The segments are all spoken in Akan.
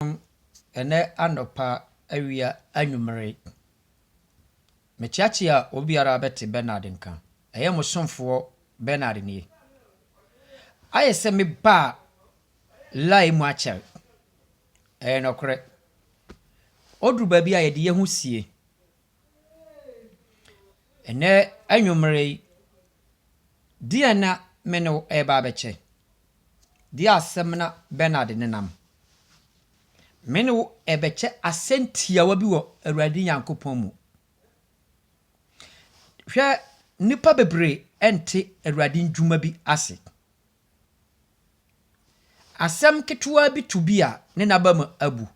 Ɔn ɛnɛ anɔpa, awia, anwummere. Meteatea obiara bɛte Bernard nka. Ɛyɛ mo somfoɔ Bernard nie. Ayɛ sɛ me baa lie mu akyɛr. Ɛyɛ nɔkorɛ. Oduru baabi a yɛde yɛn ho sie. Ɛnnɛ anwummere yi, deɛn na me ne wo reba abɛkyɛ? Deɛ asɛm na Bernard de nenam. Me ne wo rebɛkyɛ asɛm tiawa bi wɔ Awurade Nyankopɔn mu. Hwɛ, nnipa bebree nte Awurade ndwuma bi ase. Asɛm ketewa bi to bi a, ne n'abam abu.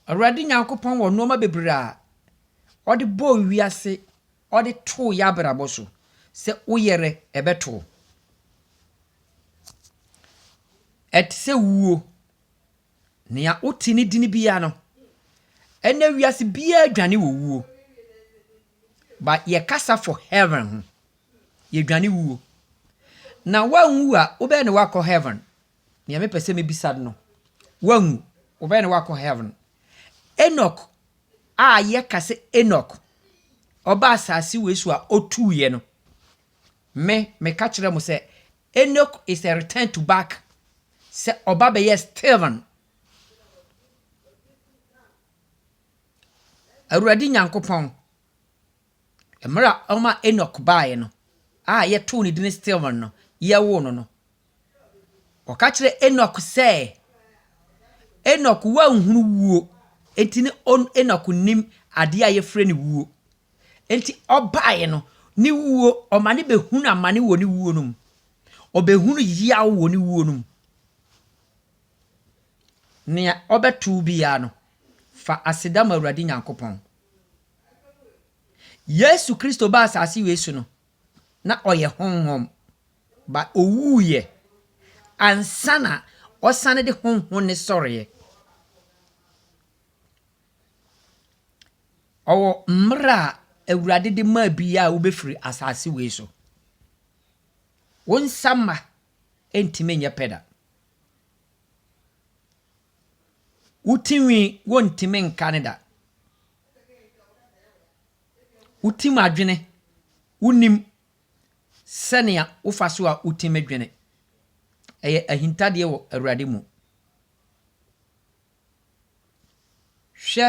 Awurade Nyankopɔn wɔ nnoɔma bebree a ɔde bɔɔ wiase, ɔde too yɛ abrabɔ so. Sɛ wo yɛrɛ ɛbɛto wo. Ɛte sɛ wuo. Nea wo te ne dini biara no, ɛnɛ wiase biara dwane wɔ wuo. But yɛ kasa for heaven ho. Yɛ dwane wuo. Na wo anwu a, wo bɛn na wakɔ heaven? nea mepɛ sɛ mebisa no no, wanwu. Wɔbɛyɛ no wakɔ heaven. Enoch a yɛka sɛ Enoch, ɔba asase wei so a otuiɛ no, me, meka kyerɛ mo sɛ, Enoch is a return to back, sɛ ɔba bɛyɛ Stephen. Awurade Nyankopɔn. Mmerɛ a ɔma Enok baeɛ no, a yɛtoo ne din Steven no, yɛwoo no no, wɔka kyerɛɛ Enok sɛ, Enok, woanhunu wuo, enti ne Enok nnim adeɛ a yɛfrɛ no wuo. Enti ɔbaeɛ no, ne wuo, ɔma ne bɛhunu amane wɔ ne wuo no mu. Ɔbɛhunu yaw wɔ ne wuo no mu. Nea ɔbɛtoo biara no, fa aseda ma Awurade Nyankopɔn. Yesu Kristo baa asase wei so no, na ɔyɛ honhom, ba owuiɛ ansa na ɔsane de honhom no sɔreɛ. Ɔwɔ mmerɛ a Awurade de maa bi a wobɛfiri asase wei so. Wo nsa mma ɛntumi nyɛ pɛ da. Wo ti nwi wontumi nka no da. Wo ti mu adwene wonim sɛnea wofa so a wo ti mu dwene. Ɛyɛ ahintadeɛ wɔ Awurade mu. Hwɛ,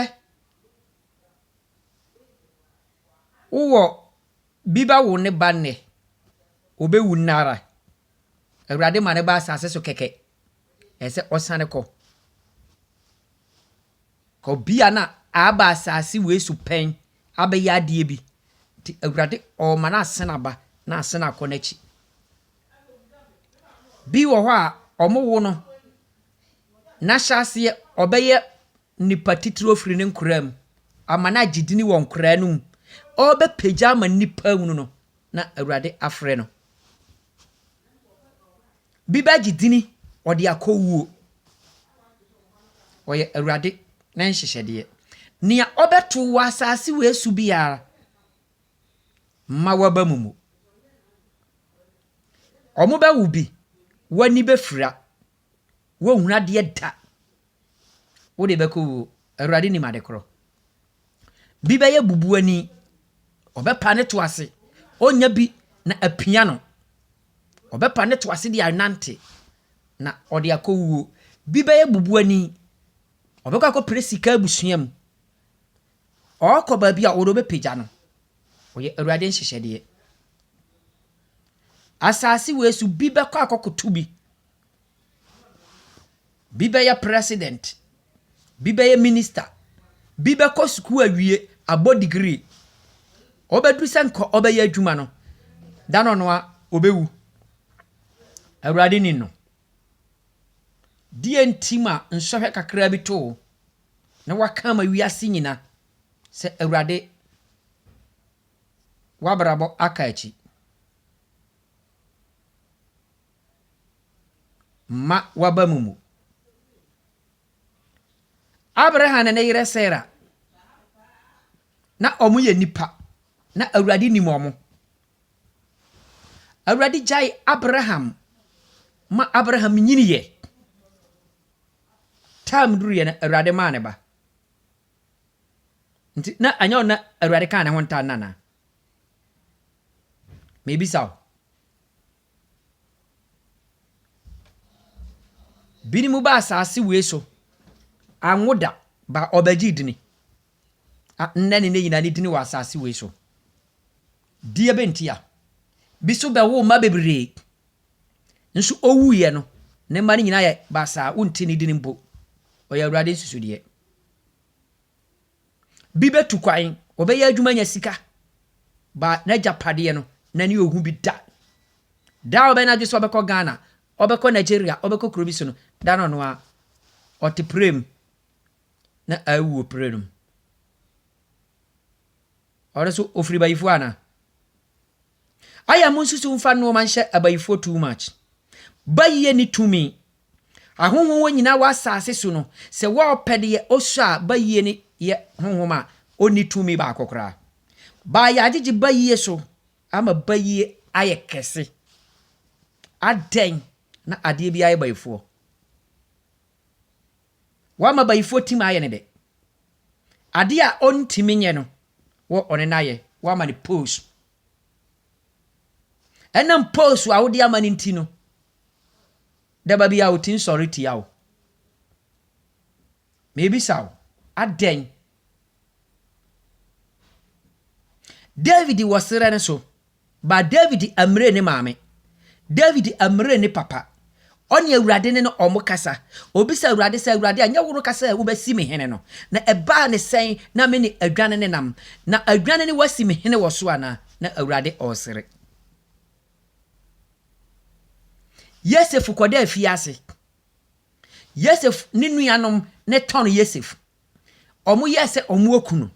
wowɔ bi ba wo ne ba nnɛ, ɔbɛwu nnɛ ara. Awurade ma no ba asase so kɛkɛ. ɛsɛ sɛ ɔsan kɔ. Ɔbea no a aba asase wei so pɛn abɛyɛ adeɛ bi, nti Awurade ɔrema no asane aba na asane akɔ n'akyi. Bi wɔ hɔ a, wɔwo no, na ahyɛaseɛ ɔbɛyɛ nnipa titiriw afiri ne nkoraa mu ama no agye dini wɔ nkoraa no mu, ɔrebɛpagya ama nnipa ahunu no na Awurade afrɛ no. Bi bɛgye dini, ɔde akɔ wuo. Ɔyɛ Awurade ne nhyehyɛdeɛ. Nea ɔbɛto wɔ asase wei so biara, mma w'aba mu mmu. Wɔbɛwo bi, w'ani bɛfira. Wonhunu adeɛ da. Wode bɛkɔ wuo. Awurade nim ade korɔ. Bi bɛyɛ bubuani. Ɔbɛpa ne to ase. Ɔnya bi na apia no. Ɔbɛpa ne to ase de anante na ɔde akɔ wuo. Bi bɛyɛ bubuani. Ɔbɛkɔ akɔpere sika abusua mu. Ɔkɔ baabi a wɔde ɔbɛpagya no. Ɔyɛ Awurade nhyehyɛdeɛ. Asase wei so bi bɛkɔ akɔkoto bi. Bi bɛyɛ president, bi bɛyɛ minister, bi bɛkɔ sukuu awie abɔ degree. Ɔbɛduru sɛ nka ɔbɛyɛ adwuma no, da no ano ara ɔbɛwu. Awurade nim no. Deɛ nti ma nsɔhwɛ kakra bi to wo na wɔaka ama wiase nyinaa sɛ Awurade w'abrabɔ aka akyi. mma w'aba mu mu. Abraham ne ne yere Sara, na wɔyɛ nnipa, na Awurade nim wɔn. Awurade gyae Abraham ma Abraham nyiniiɛ. Time duruiɛ no, Awurade maa ne ba. Nti na anyɛ na Awurade kaa ne ho ntaa nana. Mebisa wo, Binom baa asaase wei so, annwo da, ba wɔbɛgyee dini. A nnɛ ne nnɛ nyinaa ne dini wɔ asaase wei so. Deɛ bɛ ntia? Bi nso bɛwoo mma bebree, nso ɔwuiɛ no, ne mma no nyinaa yɛ basaa, wonte ne dini mpo. Ɔyɛ Awurade nsusudeɛ. Bi bɛtu kwan, wɔbɛyɛ adwuma anya sika, ba n'agyapadeɛ no, n'ani ɔhu bi da. Da a ɔbɛyɛ n'adwene sɛ ɔbɛkɔ Ghana, ɔbɛkɔ Nigeria, ɔbɛkɔ kuro bi so no, da no ɔno ara, ɔte pire mu na awu wɔ pire no mu. Ɔno so ofiri bayifoɔ ana? Aya mo nsusu mfa nnoɔma nhyɛ abayifoɔ too much. Bayie ne tumi. Ahonhom wɔ nyinaa wɔ asaase so no sɛ wɔɔpɛ deɛ ɔsɔ a bayie no yɛ honhom a ɔnni tumi baako koraa. Baa yɛagyegye bayie so ama bayie ayɛ kɛse. Adɛn na adeɛ biara yɛ bayifoɔ? Wama bayifoɔ tim ayɛ no dɛ. Adeɛ a ɔntumi nyɛ no, wo ɔne no ayɛ. Woama no pose. Ɛnam pose a wode ama no nti no, daba biara ɔtumi sɔre tia wo. Mebisa wo, adɛn David wɔ serɛ no so, but David amire ne maame. David amire ne papa. Ɔne Awurade ne no wɔkasa. Ɔbisa Awurade sɛ, Awurade, ɛnyɛ wo no ka sɛ wobɛsi me hene no? Na ɛbaa ne sɛn na me ne adwane no nam? Na adwane no woasi me hene wɔ so anaa? Na Awurade ɔresere. Yosef kɔda afiase. Yosef ne nuanom ne tɔn Yosef. wɔyɛɛ sɛ wɔaku no.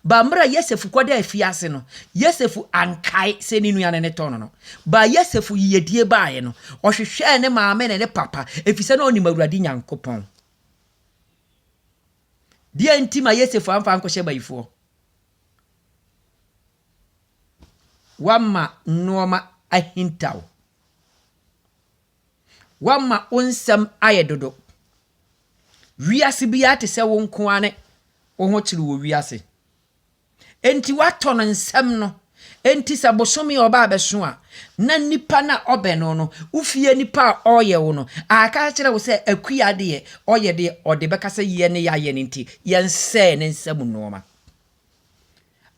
Ba mmerɛ a Yosef kɔdaa afiase no, Yosef ankae sɛ ne nua no ne tɔn no. Ba Yosef yiyedie baaeɛ no, ɔhwehwɛɛ ne maame ne ne papa, ɛfiri sɛ na ɔnim Awurade Nyankopɔn. Deɛ nti ma Yosef amfa ankɔhyɛ bayifoɔ. Wama nnoɔma ahintaw. Woama wo nsɛm ayɛ dodo. Wiase biara te sɛ wo nko ara ne wo ho kyere wɔ wiase. Enti woatɔ no nsɛm no. Enti sɛ bosome a ɔba abɛso a, na nnipa no a ɔbɛn no no, wo fie nnipa a ɔreyɛ wo no, aka akyerɛ wo sɛ Akua deɛ ɔyɛ deɛ ɔde bɛka sɛ yɛn ne yɛayɛ no nti, yɛnsɛe ne nsam nnoɔma.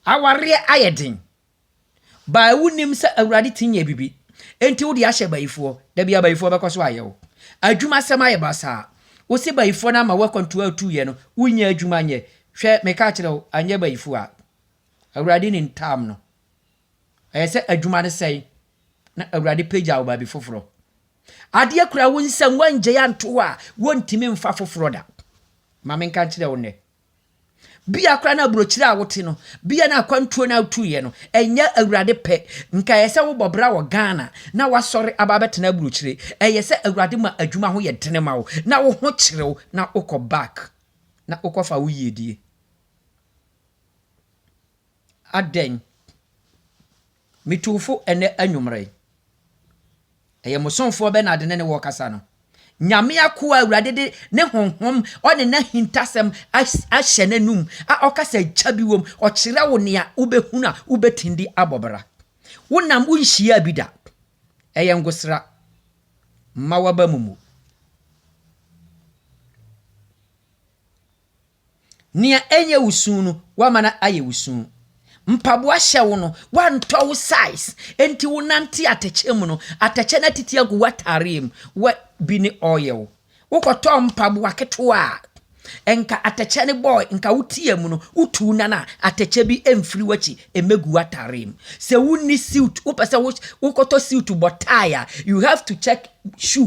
Awareɛ ayɛ den. Bae wonim sɛ awurade ti nyɛ bibi enti wode ahyɛ bayifoɔ dabi abayifoɔ bɛkɔ so ayɛ wo adwuma sɛm ayɛ basaa wose bayifoɔ no ama wo akwantua atuuyɛ no wonya adwuma nyɛ hwɛ meka kyerɛ wo anyɛ bayifoɔ a awurade ne ntaam no ɛyɛ sɛ adwuma no sɛe na awurade pagya wo baabi foforɔ adeɛ kura wo nsɛm woangyae anto hɔ a wontumi mfa foforɔ da ma menka kyerɛ wo nnɛ Bia koraa na aburokyire a wote no, bia na akwantuo no a wotuiɛ no, ɛnyɛ Awurade pɛ. Nka ɛyɛ sɛ wobɔ bra wɔ Ghana na wasɔre aba abɛtena aburokyire. Ɛyɛ sɛ Awurade ma adwuma ho yɛ dene ma wo, na wo ho kyere wo, na wokɔ back, na wokɔfa wo yiedie. Adɛn? Metuufo ɛnnɛ anwummere. Ɛyɛ mo somfoɔ Bernard ne ne wɔ rekasa no. Nyame akoa a Awurade de ne Honhom ɔne n'ahintasɛm ahyɛ n'anum a ɔkasa gya bi wom, ɔkyerɛ wo nea wobɛhunu a wobɛtumi de abɔ bra. Wonam, wonhyiaa bi da. Ɛyɛ ngosra. Mma w'aba mu mmu. Nea ɛnyɛ wo su no, woama no ayɛ wo su. Mpaboa hyɛ wo no, woantɔ wo size, enti wonante atɛkyɛ mu no, atɛkyɛ no atiti agu w'atareɛ mu. Wɛ bi ne oil. Wokɔtɔɔ mpaboa ketewa a, nka atɛkyɛ no bɔɔ, nka wotia mu no, wotuu nan a, atɛkyɛ bi mfiri w'akyi mmɛgu w'atareɛ mu. Sɛ wonni suit, wopɛ sɛ wokɔtɔ suit bɔ tie a, you have to check shoe.